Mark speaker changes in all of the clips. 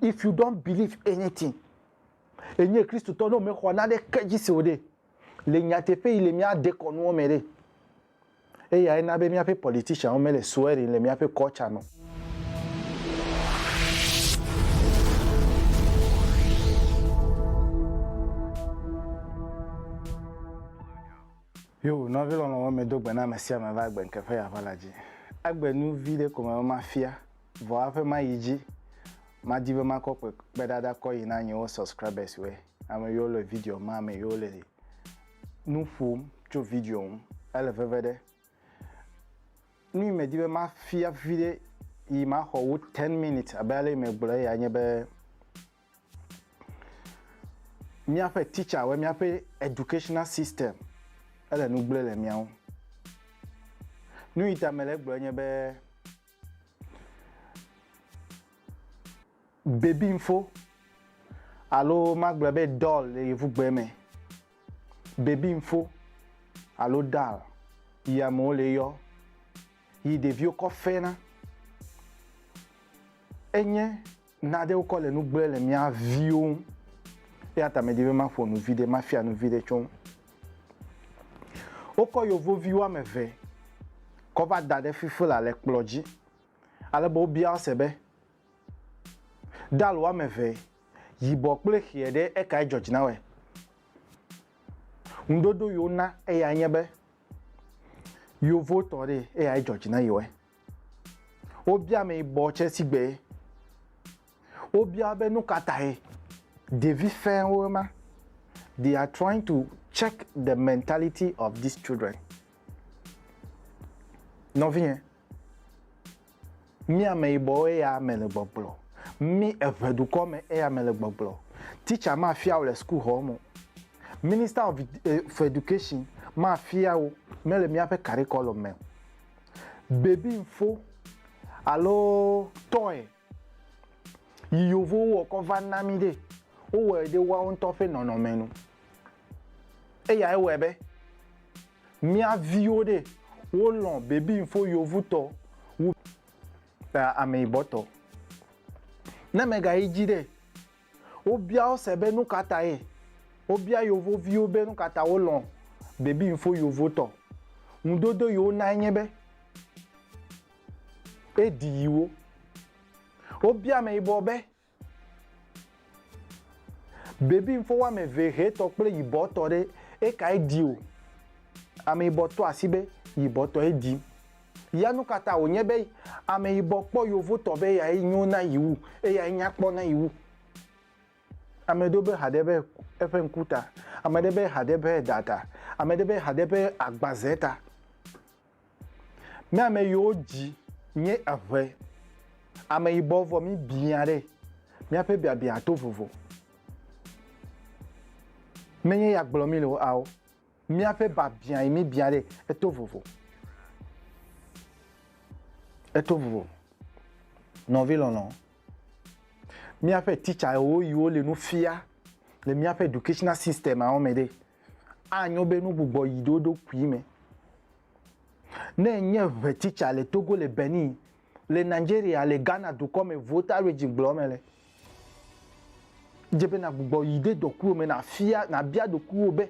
Speaker 1: If you don't believe anything, enye Kristotɔ ne wòmexɔ naneke dzi se o ɖe, le nyateƒe yi le mía dekɔnuwo me ɖe, eyae na be míaƒe politicianwo mele swearing le míaƒe culture me o. Yo, nɔvi lɔlɔ̃wo, medo gbe na ame sia ame va gbe ŋkeƒe ya ʋala dzi. Egbe nu vi ɖe ko me be mafia. Vɔ aƒe ma yi dzi. Ma di be ma kɔ kpe kpe ɖa ɖa kɔ yi na nye wo subscribers wɛ. Ame yo le video ma me yo le nu ƒom tso video ŋu. Ele veve ɖe. Nui me di be ma fia vi ɖe yi ma xɔ wo 10 minutes abe ale yi me gblɔ ya nye be mia ƒe teacher wɛ mia ƒe educational system ele nu gble le mia ŋu. Nui ta me le gblɔ nye be Bebinfo alo magblɔ be doll le yevugbe me. Bebinfo alo doll yi amewo le yɔ yi ɖeviwo kɔ fena enye Nade wokɔ le nu gblɔe le mía viwo ŋu. Eya ta medi be maƒo nu viɖe, mafia nu viɖe tso ŋu. Wokɔ yevovi woame eve kɔ va da ɖe Fifila le kplɔ dzi ale be wobia wo se be, Dal woame eve, yibɔ kple ʋee ɖe, ekae dzɔ dzi na wɔe? Ŋuɖoɖo yi wona eyae nye be, yevotɔ ɖee, eyae dzɔ dzi na yi wɔe. Wobia ame yibɔ tsɛ si gbe. Wobia be nu ka tae ɖevi fɛwo ma. They are trying to check the mentality of these children. Nɔvinyɛ, mí ame yibɔwo eya me le gbɔgblɔ. Mí eŋɛ dukɔ me eya me le gbɔgblɔ. Teacher ma fia wo le school xɔ me o. Minister of eh, education ma fia wo mele mía ƒe carriculum me o. bebinfo alo tɔe yi yovowo wɔ kɔ va na mí ɖe, wowɔe ɖe woawo ŋutɔ ƒe nɔnɔme nu. Eya ewɔe be mía viwo ɖe wolɔ̃ bebinfo yovotɔ wu ameyibɔtɔ. Ne mègayi dzi ɖe, Wobia wo se be nukatae. Wobia yovo viwo be nukata wo lɔ̃ baby info yovo tɔ. Ŋudodo yi wo nae nye be e ɖi yi wo. Wobia ameyibɔ be baby info wa me ve ʋe tɔ kple yibɔ tɔ ɖe eka e ɖi o. Ameyibɔ tɔ asi be yibɔ tɔ e ɖi. Ya nukata wònye be ameyibɔ kpɔ yovotɔ be eyae nyo na yi wu, eyae nyakpɔ na yi wu? Ame ɖewo be haɖe be eƒe ŋku ta, ame ɖe be haɖe be eɖa ta, ame ɖe be haɖe be agbaze ta. Mía ame yiwo dzi nye eŋe ameyibɔ vɔ mi biã ɖe, míaƒe biabiã to vovo. Menye ya gblɔ mi le o, ao. Míaƒe biabiãe míbia ɖe eto vovo. Eto vovo. Nɔvi lɔlɔ, míaƒe titsawo yiwo le nu fia le míaƒe educational systemawo me ɖe, anyo be nu gbugbɔ yi ɖe wo ɖokui me. Ne nye ŋɛ titsa le Togo le Benin, le Nigeria le Ghana dukɔ me Volta region gblɔ me le. Dze be nagbugbɔ yi de dɔkuwo me nafia nabia ɖokuiwo be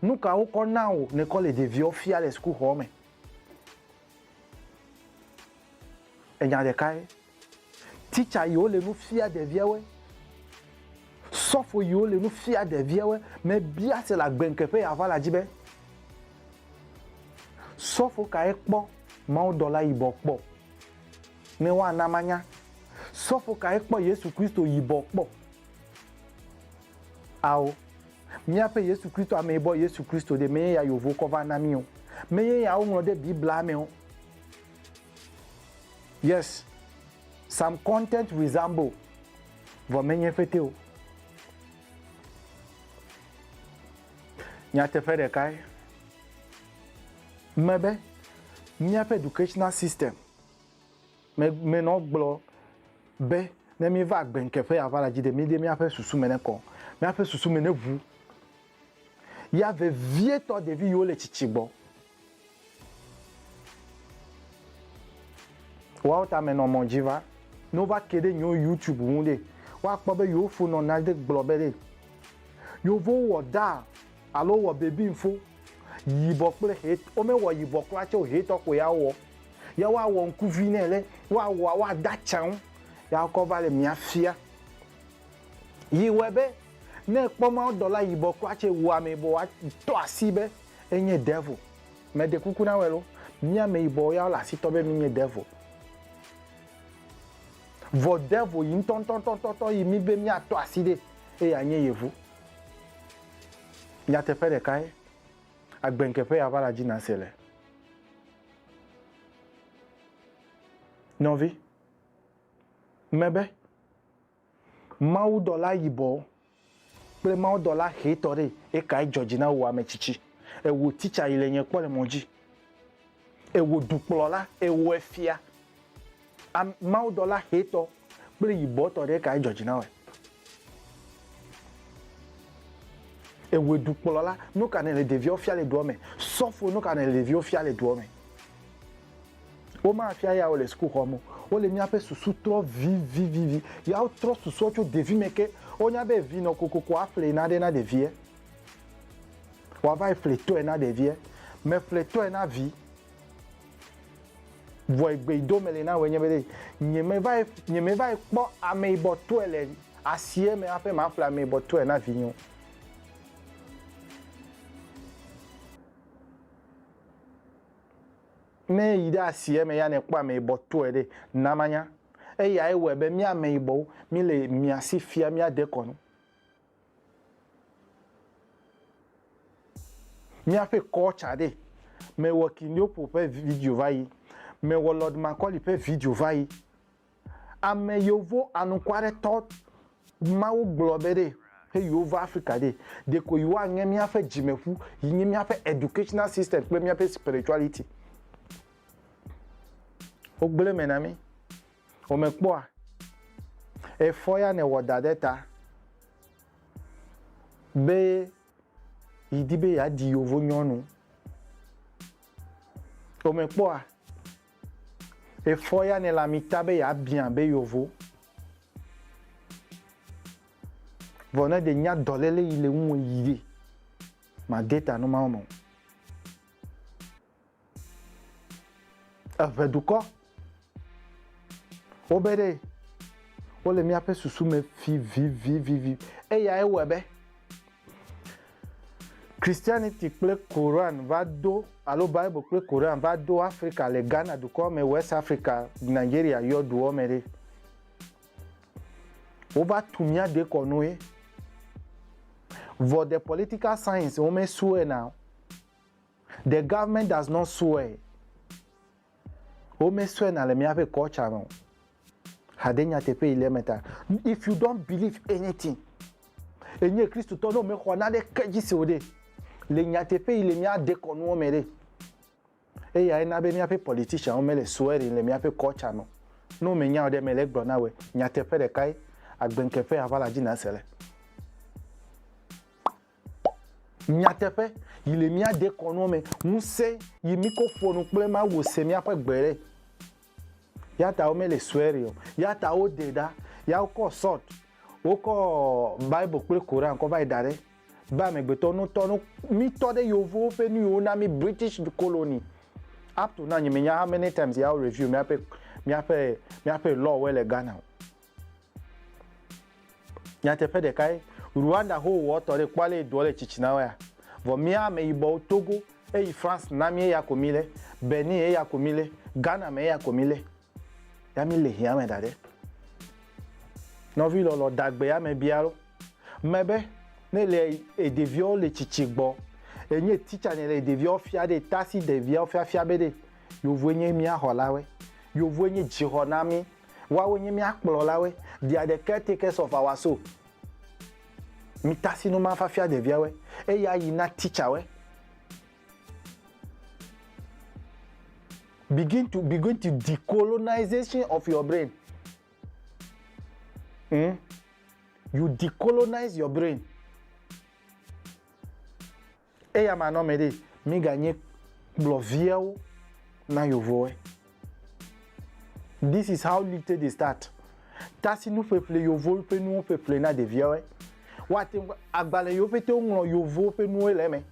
Speaker 1: nu ka wokɔ na wò nekɔ le ɖeviwo fia le sukuxɔ me. Enya ɖeka ye. Teacher yiwo le nu fia ɖeviawoe. Sɔfo yiwo le nu fia ɖeviawoe mebia se le agbeŋkeƒe ya va la dzi be Sɔfo kae kpɔ mawudɔla yibɔ kpɔ? Ne woana manya, sɔfo kae kpɔ Yesu Kristo yibɔ kpɔ? Ao, míaƒe Yesu Kristo ameyibɔ Yesu Kristo ɖe menye ya yovo kɔ va na mí o. Menye ya woŋlɔ ɖe Biblia me o. Yes, some content resemble, vɔ menye fete o. Nyateƒe ɖekae me be míaƒe educational system me menɔ gblɔ be ne míva agbe ŋkeƒe ava la dzi ɖe míɖe míaƒe susu me nekɔ, míaƒe susu me neʋu ya vevietɔ ɖevi yiwo le tsitsi gbɔ. Woawo ta menɔ mɔ dzi va. Ne wova ke ɖe yewo YouTube ŋu ɖe, woakpɔ be yewo fo nɔ na ɖe gblɔ be ɖe Yevowo wɔ daa alo wowɔ baby ŋfo, yibɔ kple ʋe, womewɔ yibɔ kura tsɛ o, ʋetɔ koe ya wowɔ. Ya woawɔ ŋkuvi nɛ ɖe woawɔa woade atsã ŋu ya wokɔ va le mia fia. Yi wɔe be ne ekpɔ mawudɔla yibɔ kura tsɛ wua amɛ bɔ woatɔ asi be Enye devil. Me ɖe kuku na wɛlo. Mía ameyibɔwo ya wole asi tɔ be mí nye devil. Vɔ devil yi ŋtɔŋtɔŋtɔŋtɔ yi mí be mía tɔ asi ɖe eye a nye yevu. Nyateƒe ɖeka ye. Agbe ŋke ƒe ya va la dzi na se le. Nɔvi. Me be. Mawudɔla yibɔ kple mawudɔla ʋetɔ ɖe, ekae dzɔ dzi na wò ametsitsi? Ewò titsa yi le nye kpɔ le mɔ dzi. Ewò dukplɔla, ewò efia. Am, mawudɔla ʋetɔ kple yibɔtɔ ɖe, ekae dzɔ dzi na wòe? Ewò dukplɔla, nuka nèle ɖeviawo fia le dua me? Sɔfo, nuka nèle ɖeviwo fia le dua me? Womafia yawo le sukuxɔ me o. Wole míaƒe susu trɔ vivivivi. Yawo trɔ susua tso ɖevime ke. Wonya be vi nɔ kokoko aƒle nane na ɖevia, wòava yi ƒletɔe na ɖevia. Me ƒletɔe na vi. Vɔ egbeyidome le na wòe nye be ɖe nyemeva yi, nyemeva yi kpɔ ameyibɔtɔe le asie me hafi maƒle ameyibɔtɔe na vinye o. Ne yi ɖe asi eme ya nèkpɔ ameyibɔ tɔe ɖe, na manya. Eyae wɔe be mí ameyibɔwo míle mia si fia mía dekɔnu. Míaƒe culture ɖe, mewɔ Kindiopo ƒe video va yi, mewɔ Lord Macaulay ƒe video va yi. Ame yovo anuku aɖe tɔ Mawu gblɔ be ɖe he yewo va Africa ɖe, ɖeko yewoa ŋe míaƒe dzimeƒu yi nye míaƒe educational system kple míaƒe spirituality. Wo gblɔe me na mí. Wo me kpɔa? Efɔ ya ne wɔ da ɖe ta be yi di be ya di yovo nyɔnu. Wo me kpɔa? Efɔ ya nɛ le amita be ya biã be yovo. Vɔ ne de nya dɔlele yi le ŋuwe yi de, ma de ta numa wome o. Eʋe dukɔ, wo be ɖe, wo le mía ƒe susu me vivivivivi. Eya ye wɔe be. Christianity kple Quran va do alo Bible kple Quran va do Afrika le Ghana dukɔ me, West Africa, Nigeria yɔduɔ me ɖe. Wova tu mía dekɔnu ye. Vɔ the political science wo me sue na o. The government does not swear. Wo me sue na le míaƒe culture me o. Hade nyateƒe yi le eme ta. If you don't believe anything, enye Kristotɔ ne wòmexɔ naneke dzi se o ɖe, le nyateƒe yi le mía dekɔnuwo me ɖe, eyae na be míaƒe politicianwo mele swearing le míaƒe culture me o. Ne womenya o ɖe, mele egblɔm na wòe. Nyateƒe ɖekae, agbeŋkeƒe aʋala dzi nàse le. Nyateƒe, yi le mía dekɔnua me ŋusẽ yi mí ko ƒo nu kple Mawu se míaƒe gbe ɖe. Ya ta wo me le sue ɖe o. Ya ta wo de ɖa. Ya wo kɔ sɔt. Wo kɔ Bible kple Koran kɔ va yi da ɖe. Be amegbetɔ no tɔ no mí tɔ ɖe yovowo ƒe nu yi wo na mí British colony. Up to now nye me nya how many times ya wo review míaƒe míaƒe míaƒe law wo le Ghana o. Nyateƒe ɖekae, Rwanda ho wɔ tɔ ɖe kpɔ ale yi dɔ le tsitsina wɛa. Vɔ mía ame yibɔwo Togo eyi France na mí eya ko mí le, Benin eya ko mí le, Ghana me eya ko mí le. Ya mí le hiame da ɖe. Nɔvi lɔlɔ dagbe ya me bia lo me be ne le e ɖeviɔwo le tsitsi gbɔ e nye teacher ne le ɖeviɔwo fia ɖe ta si ɖeviawo fiafia be ɖe yovoe nye mía xɔla wɛ. Yovoe nye dzi xɔ na mí. Woawoe nye mía kplɔlawoe. Dia ɖe caretaker of our soul. Mi tasi nu ma fa fia ɖeviawoe. Eya yi na teacher woe. Begin to begin to decolonization of your brain. Hmm? You decolonize your brain. Eya ma nɔ mɛ ɖe mi ga nye kplɔ viɛwo na yovowɛ. This is how lite de start tasi nu ƒeƒle yovo ƒe nuwo ƒeƒle na ɖeviɛwɛ. Wa te ŋu agbalɛ yo pete wo ŋlɔ yovo ƒe nuwo le eme.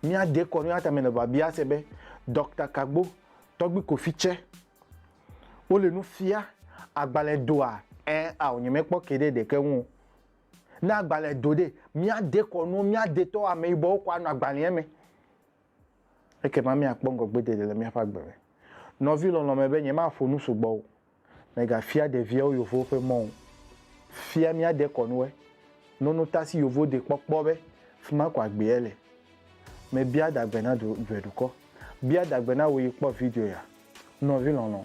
Speaker 1: Mia de kɔ nua tame le ba bia se be Doctor Kagbo, Tɔgbi Kofi tsɛ wo le nu fia agbalɛ doa? Ɛɛ ao nye me kpɔ ke ɖe ɖeke ŋu o. Ne agbalẽ do ɖe, míade kɔ nuwo, míade tɔ ameyibɔwo kɔ anɔ agbalẽa me. Ekema míakpɔ ŋgɔgbedede le míaƒe agbe me. Nɔvi lɔlɔ̃ me be, nyemaƒo nu sugbɔ o. Mègafia ɖeviawo yovowo ƒe mɔ o. Fia mía dekɔnuwoe. Nono ta si yovo de kpɔ kpɔ be, Fi ma ko agbea le. Mebia adagbe na du, duedukɔ. Bia adagbe na wò yi kpɔ video ya. Nɔvi lɔlɔ̃.